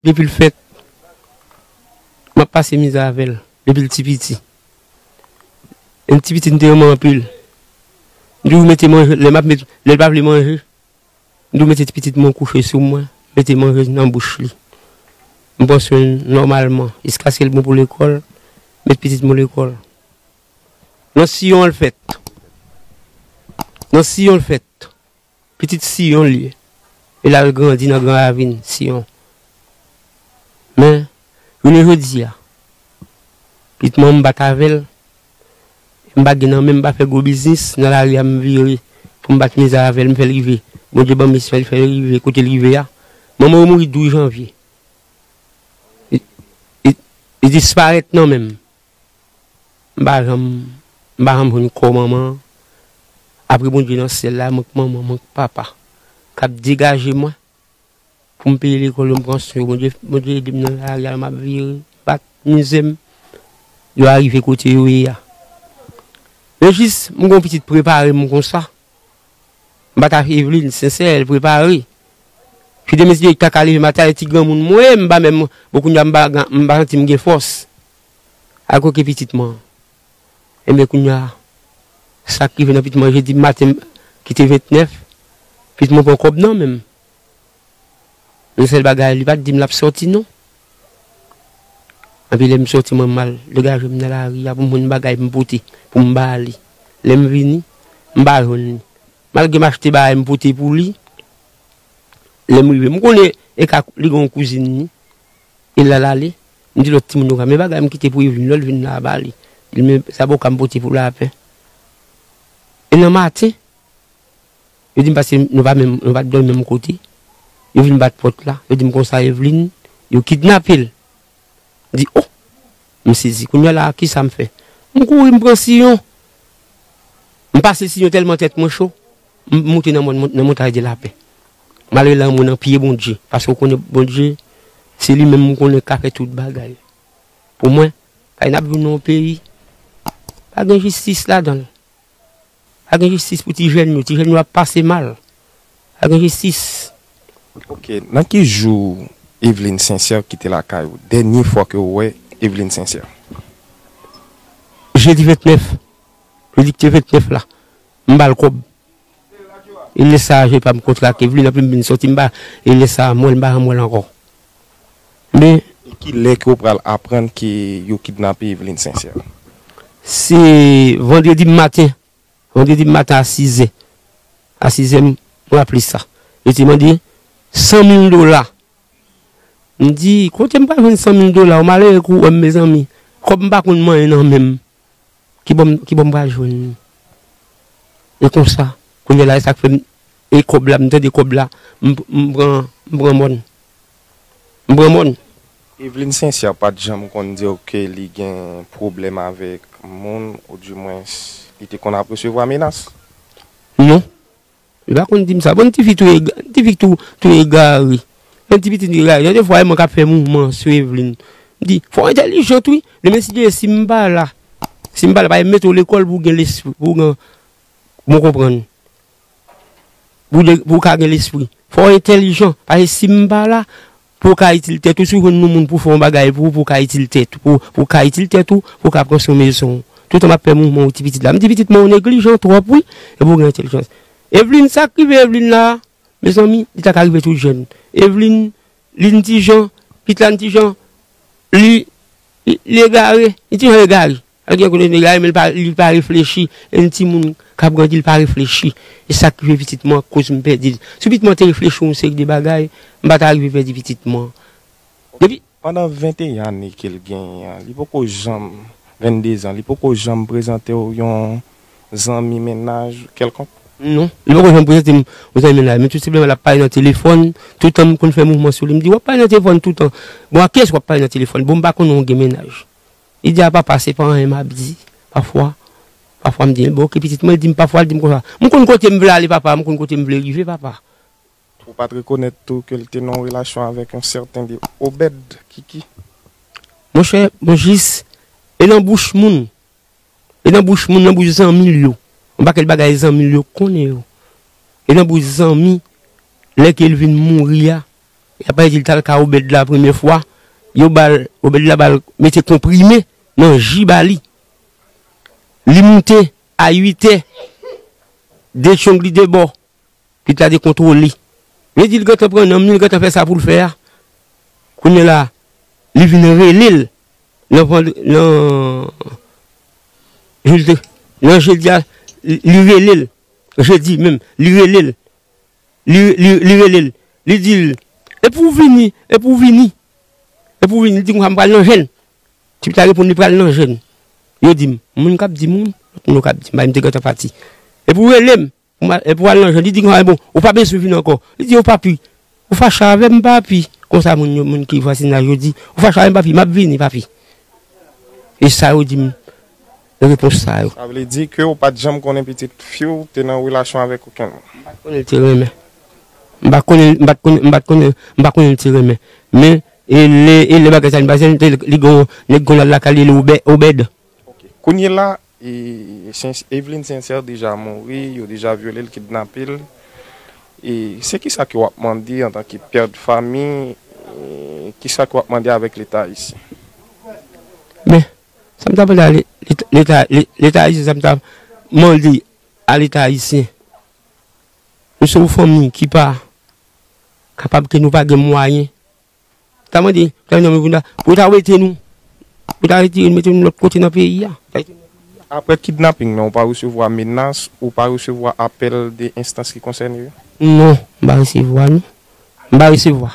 Depi l fèt, m ap pase mizè avè l, depi l ti piti. Lè m ti piti, m te renmen anpil. M toujou mete manje, lè l pa vle manje, m toujou mete ti pitit mwen kouche sou mwen, m mete manje nan bouch li. M pran swen l nòmalman, jiskaske l bon pou lekòl, m met pitit mwen lekòl. Nan siyon an l fèt. Nan siyon l fèt. Pitit Siyon l ye, e l al grandi nan gran ravin Siyon. Men, jounen jodi a, pitman m pa t avè l, e m pa gen nan men m pa fè gwo biznis, nan lari a m vire pou m bat mizè avè l, m fè l rive. Bondye ban m misyon, li fè l rive kote l rive a. Manman yo mouri 12 janvye. Li disparèt nan men m. M pa janm m pa janm jwenn kò manman an apre Bondye nan syèl la mank manman mank papa kap degaje mwen pou m peye lekòl yo m pran swen yo Bondye Bondye ede m nan lari a map vire m pa k mize m yo arive kote yo ye a yo jis m gon pitit prepare m konsa m pa ta fè Evelyne Sincère l prepare ki te mete kaka leve maten ale ti granmoun mwen m pa menm bon kounya m pa janti m gen fòs. a koke pitit man an. Enben kounya, sa k rive nan pit man an jedi maten ki te 29, pit mwen pran kòb nan men m. Yon sèl bagay, li pa t di m l ap soti non. Anpi lè m soti mwen m al degaje m nan lari a pou m jwenn bagay pou m pote pou m ba li. Lè m vini, m pa jwenn li. Malgre m achte bagay m pote pou li, lè m rive m konnen e ka li gen yon kouzin li. E lal ale, m di lòt timoun yo ranmen bagay m kite pou Evlin lò, l vin la a ba li. Li di men zaboka m pote pou Lapin. E nan maten, yo di m pase nou pa menm, nou pa t dòmi menm kote, yo vin bat pòt la, yo di m konsa Evlin, yo kidnape l. M di o! M sezi. Kounye a la a, kisa m fè? M kouri m pran siyon. M pase siyon tèlman tèt mwen cho, M moute nan mòn nan montay de lapè M ale lanmou nan pye Bondye Paske ou konnen Bondye Se li menm m konnen k ka fè tout bagay Pou mwen Kay n ap viv nan yon peyi Pa gen jistis ladan l Pa gen jistis pou ti jèn yo Ti jèn yo ap pase mal Pa gen jistis Ok nan ki jou Evelyne Sincère kite lakay ou dènye fwa ke ou wè Evelyne Sincère? Jedi 29 Jedi ki te 29 la m ba l kòb. E lè sa a, je pa m kontrake, vle nan plim vin soti m ba l. E lè sa a, mwèl m pa ranmwèl ankò. Men. E ki lè ke w pral aprann ke yo kidnape Evelyne Sincère? Se vandredi maten. Vandredi maten a sizè. A sizè m raple sa. Yo te mande san mil dola. M di, kote m pral jwenn san mil dola? Ou malere kou wè m mezanmi. Kòb m pa konn manyen nan men m. Ki bò m pral jwenn li? E konsa, kounye la e sa k fè m, e kòb la, m tande kòb la, m pran mòn. M pran mòn. Evelyne Sincère pa t janm konn di w ke li gen pwoblèm avèk moun, ou di mwens li te konn ap resevwa menas? Non. Li pa konn dim sa. Bon ti fi touye ti fi tou touye Gary. Yon ti pitit touye Gary. Gen de fwa e mwen k'ap fè mouvman sou Evelyne. M di, fò w entèlijant wi. Demen si Dye vle si m pa la, si m pa la paske yo mete w lekòl pou w gen lespri, pou w gen bon konprann. Pou w ka gen lespri. Fò w entèlijant. Paske si m pa la. Pou w ka itil tèt ou, si w jwenn yon moun pou fè yon bagay pou ou, pou w ka itil tèt ou, pou w ka itil tèt ou, pou w ka pran swen mezon w. Toutan m ap fè mouvman ou ti pitit la. M di pitit men ou neglijan twòp wi, epi ou gen entèlijans. Evlin, sa k rive Evlin la a? Mezanmi, li ta ka rive tout jèn. Evlin, li n ti jan, pitit la n ti jan, li, li egare, li ti jan egare. An gen kote nèg la ye men li pa reflechi e yon timoun k ap grandi li pa reflechi e sa k rive pitit mwen koz m pèdi l. Si pitit mwen te reflechi yon seri de bagay m pa ta rive pèdi pitit mwen. Depi. Pandan 21 ane ke l genyen an li poko janm, 22 zan, li poko janm prezante w yon zanmi mennaj kèlkonk? Non. Li poko janm prezante m yon zanmi mennaj men tout senpleman l ap pale nan telefòn toutan m konn fè mouvman sou li m di w ap pale nan telefòn toutan bon ak kiyès w ap pale nan telefòn bon m pa konnen w gen mennaj. Lidi a papa se pa anyen map di pafwa pafwa m di bon ok pitit mwen li di m pafwa li di m konsa m konn kote m vle ale papa m konn kote m vle rive papa. Ou pat rekonèt tou ke l te nan yon relasyon avèk yon sèten de Obed Kiki? Monchè mwen jis e nan bouch moun e nan bouch moun nan bouch zanmi l yo yon pakèt bagay zanmi l yo konnen yo e nan bouch zanmi lè ke l vin mouri a. Yap bay dil tal ka obed la premye fwa yo bal obed la bal mete konprime nan ji bali li moute a 8 è de tchong li de bò pit la de kontrole men dil gentan pran nanm li li gentan fè sa poul fè a kounye la li vin relel nan vand nan nan jodi a li relel jodi menm li relel li rele l, li di l, Epi w vini, epi w vini. Epi w vini, li di konsa, M pral nan jèn. Tip la reponn, Li pral nan jèn. Yo di m, Moun k ap di moun, lòt moun yo ka ap di m, paske m te gentan pati. Epi w rele m, epi w al nan jèn. Li di konsa, Ebyen, ou pa bezwen vini ankò. Li di yo, Papi, ou fache avè m, papi? Konsa moun ki vwazinaj yo di, Ou fache avè m, papi? M ap vini, papi. E sa yo di m. de repons sa yo. Sa vle di ke ou pat janm konnen pitit fi w te nan relasyon avèk okenn moun? M pat konnen l te renmen. M pa konnen, m pat konnen, m pat konnen, m pa konnen l te renmen. Men, e lè, e lè bagay sa vin pase, m te, li gen yon nèg kon l al lakay li rele Obè, Obèd. Ok. Kounye la, e, Sens, Evelyne Sincère deja mouri, yo deja vyole l, kidnape l. E, se kisa ke w ap mande antan ke pè de fami, e, kisa ke w ap mande avèk Leta Ayisyen? Men, Sa m ta mande a leta, leta ayisyen sa m ta mande a leta ayisyen, nou se yon fanmi ki pa kapab ke nou pa gen mwayen, m ta mande premye minis Boulos la pou yo ta wete nou, pou yo ta wete nou mete nou lòt kote nan peyi a. Aprè kidnaping nan ou pa resevwa menas, ou pa resevwa apèl de enstans ki konsène yo? Non, m pa resevwa non, m pa resevwa.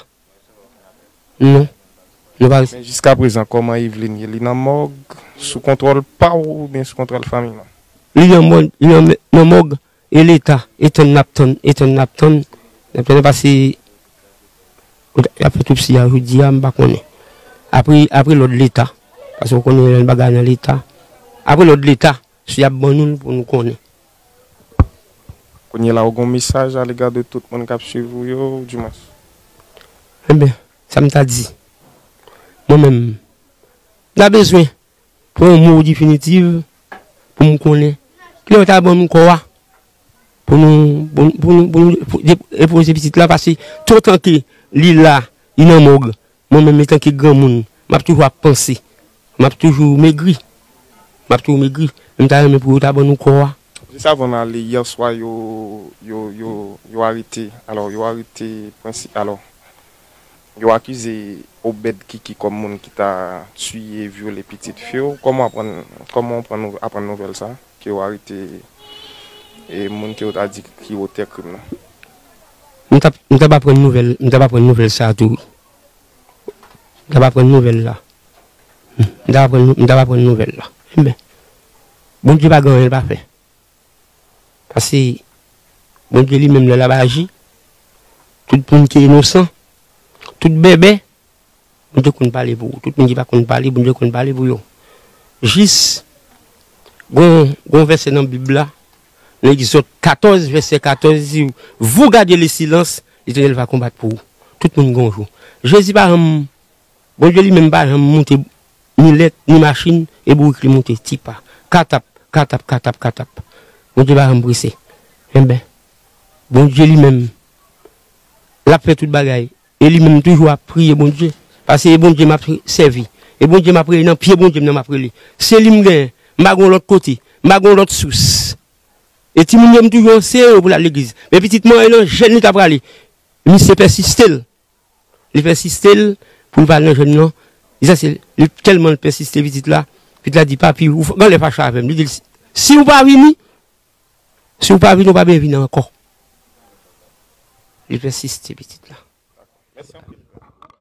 Non. Nou pa resevwa. Jiska prezan koman Eveline ye li nan mòg sou kontwòl paw ou byen sou kontwòl fanmi nou. Li nan mòg nan mòg e leta e tann nap tann e tann nap tann nap tann pase yap fè topsi ya jodi ya m pa konnen apre apre lòd leta pase ou konnen yon bagay nan leta apre lòd leta si yap ban nou l pou nou konnen. Kounye la ou gon mesaj a lega de tout moun kap swiv ou yo ou di mwens. Enben, sa m ta di, mwen menm, m ta bezwen pou yon mo definitiv pou m konnen ki lè yo ta ban m kò a pou nou, pou nou depoze pitit la pase tout tan ke li la, li nan mòg, Mwen menm etanke granmoun, m ap toujou ap panse. M ap toujou megri. M ap toujou megri. Men m ta renmen pou yo ta ban nou kò a. Jis avan m ale yè swa yo yo arete alò yo arete prensi alò yo akize Obed Kiki kòm moun ki ta tiye vyole pitit fi w kòman w aprann kòman w pran aprann nouvèl sa ke yo arete moun ke yo ta di ki otè krim nan? M tap m tap aprann nouvèl m tap aprann nouvèl sa tou wi m tap aprann nouvèl la m tap aprann m tap aprann nouvèl la men Bondye pa gen anyen l pa fè pase Bondye li menm lè l ap aji tout moun ki inosan tout bèbè Bondye konn pale pou ou. Tout moun ki pa konn pale, Bondye konn pale pou yo. Jis, gon, gon vèsè nan Bib la, nan Egzòd 14, vèsè 14, li di, Vous gardez le silence, Letènèl va konbat pou ou. Tout moun gon jou. Jezi pa janm, Bondye li menm pa janm moute milèt, ni machin, e bourik li moute ti pa. Katap, katap, katap, katap. Bondye pa janm prese. Enben, Bondye li menm, l ap fè tout bagay. E li menm m toujou ap priye Bondye. Pase e Bondye m ap sèvi. E Bondye m ap rele nan pye Bondye m nan m ap rele. Se li m genyen. M pa gen yon lòt kote. M pa gen yon lòt sous. E timoun yo m toujou anseye yo pou l al legliz. Men pitit mwen e nan jèn li ta prale. Misye pèsiste l. Li pèsiste l pou l pa al nan jèn nan. Sa se li tèlman l pèsiste pitit la. Pitit la di papi ou gen lè fache avè m. Li di l si ou pa vini Si ou pa vini ou pa byen vini anko. Li pèsiste pitit la.